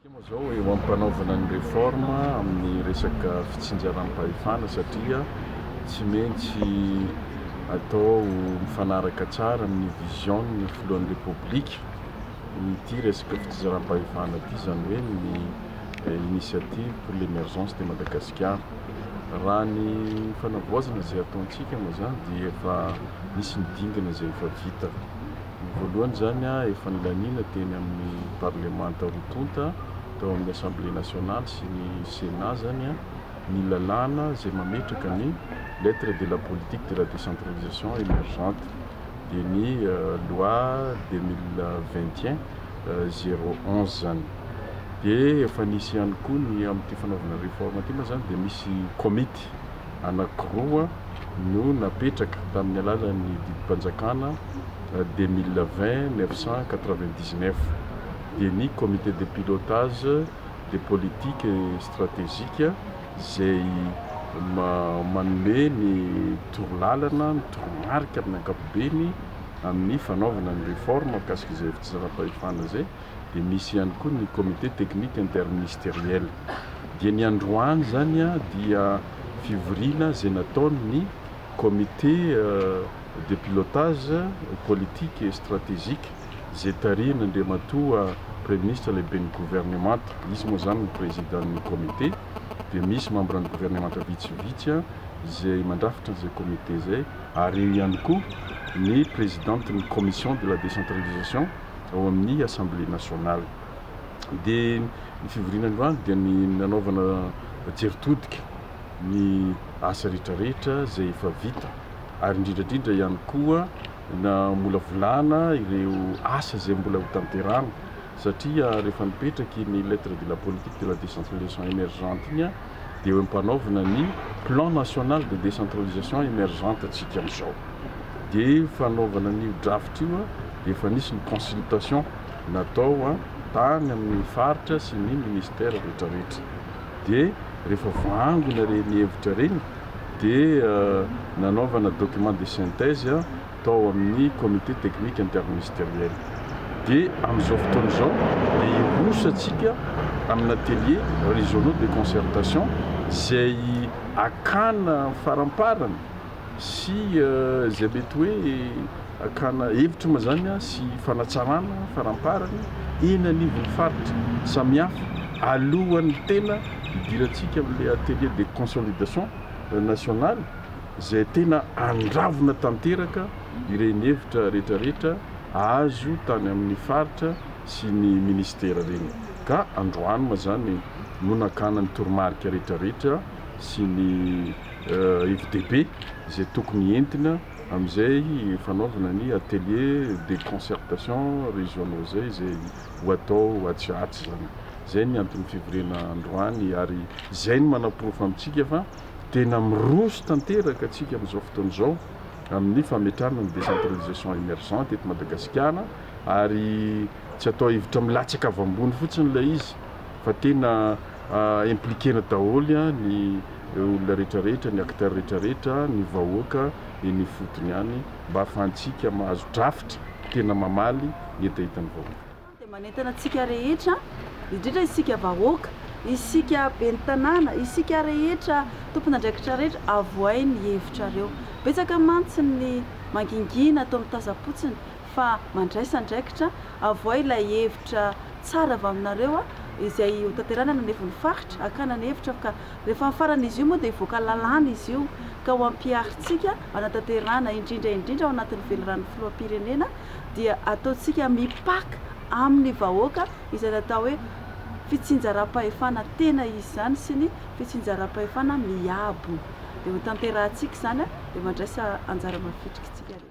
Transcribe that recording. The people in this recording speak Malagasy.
Antsika moa izao eo am-panaovana ny réforme amin'ny resaka fitsinjaram-pahefana satria tsy maintsy atao mifanaraka tsara amin'ny vision-n'ny filohan'ny Repoblika ity resaka fitsinjaram-pahefana ity, izany hoe ny initiative pour l'emergence de Madagascar. Madagasikara. Raha ny fanavaozana izay ataontsika moa izany dia efa nisy ny dingana izay efa vita. Ny voalohany izany efa nilaniana teny amin'ny parlemanta roa tonta, tao amin'ny Assemblée nationale sy ny Sénat izany ny lalàna izay mametraka ny lettre de la politique de la décentralisation émergente dia ny loi deux mille vingt et un. zero onze zany de efa nisy ihany koa ny amin'ity fanaovana réforme ity moa zany de misy komity anankiroa no napetraka tamin'ny alalan'ny didim-panjakana deux mille vingt neuf cent quatre vingt dix neuf dia ny comité de pilotage des politiques stratégiques izay manome ny torolalana ny toromarika amin'ny ankapobeny amin'ny fanaovana ny réforme mikasika izay tsy zava-pahefana izay dia misy ihany koa ny comité technique interministériel dia ny androany izany dia fivoriana izay nataon'ny comité de pilotage politique et stratégique izay tarihin'Andriamatoa Praiminisitra Lehiben'ny Governemanta, izy moa izany no Présiden'ny comité dia misy membran'ny governemanta vitsivitsy izay mandrafitra an'izay comité izay. ary eo ihany koa ny prezidantin'ny Commission de la décentralisation ao amin'ny Assemblée nationale. Dia ny fivoriana androany dia ny nanaovana jery todika ny asa rehetrarehetra izay efa vita ary indrindra indrindra ihany koa namolavolana ireo asa izay mbola ho tanterahana satria rehefa nipetraky iny lettre de la politique de la décentralisation émergente iny dia eo ampanaovina ny Plan national de décentralisation émergente antsika amin'izao. Dia io fanaovana an'io draft io dia efa nisy ny consultation natao tany amin'ny faritra sy ny ministère rehetra rehetra. Dia rehefa voaangona ireny hevitra ireny dia nanaovana document de synthèse, tao amin'ny Comité Technique Interministériel. Dia amin'izao fotoana izao dia hirosotsika amin'ny atelier régionaux de concertation izay hakana faramparany sy izay mety hoe hakana hevitra moa izany sy fanatsarana faramparany eny anivon'ny faritra samihafa alohan'ny tena hidirantsika amin'ilay atelier de consolidation nationale izay tena andravona tanteraka ireny hevitra rehetrarehetra azo tany amin'ny faritra sy ny minisitera ireny ka androany moa izany no nakana ny toromarika rehetrarehetra sy ny hevi-dehibe izay tokony entina amin'izay fanaovana ny atelier de concertation régionaux izay izay ho atao atsy ho atsy izany. Izay ny anton'ny fivoriana androany ary izay no manaporofo amintsika fa. Tena miroso tanteraka tsika amin'izao fotoana izao amin'ny fametrahana ny décentralisation émergente eto Madagasikara ary tsy atao hevitra milatsaka avy ambony fotsiny ilay izy fa tena impliquer-na daholo ny olona rehetrarehetra, ny acteurs rehetrarehetra, ny vahoaka eny ifotony any mba ahafahantsika mahazo drafitra tena mamaly ny hetahetan'ny vahoaka. dia manentana antsika rehetra, indrindra isika vahoaka, isika ben'ny tanàna, isika rehetra tompon'andraikitra rehetra avohay ny hevitrareo. Betsaka mantsy ny mangingina ato amin'ny Tazapotsiny fa mandraisa andraikitra, avohay ilay hevitra tsara avy aminareo izay ho tanterahina any anivon'ny faritra, hakana ny hevitra ka rehefa amin'ny faran'izy io moa dia hivoaka lalàna izy io ka ho ampiharintsika hanatanterahana indrindra indrindra ao anatin'ny velirano filoham-pirenena dia ataontsika mipaka amin'ny vahoaka izay natao hoe fitsinjaram-pahefana tena izy izany sy ny fitsinjaram-pahefana miabo. Dia ho tanterahantsika izany dia mandraisa anjara mavitrika isika rehetra.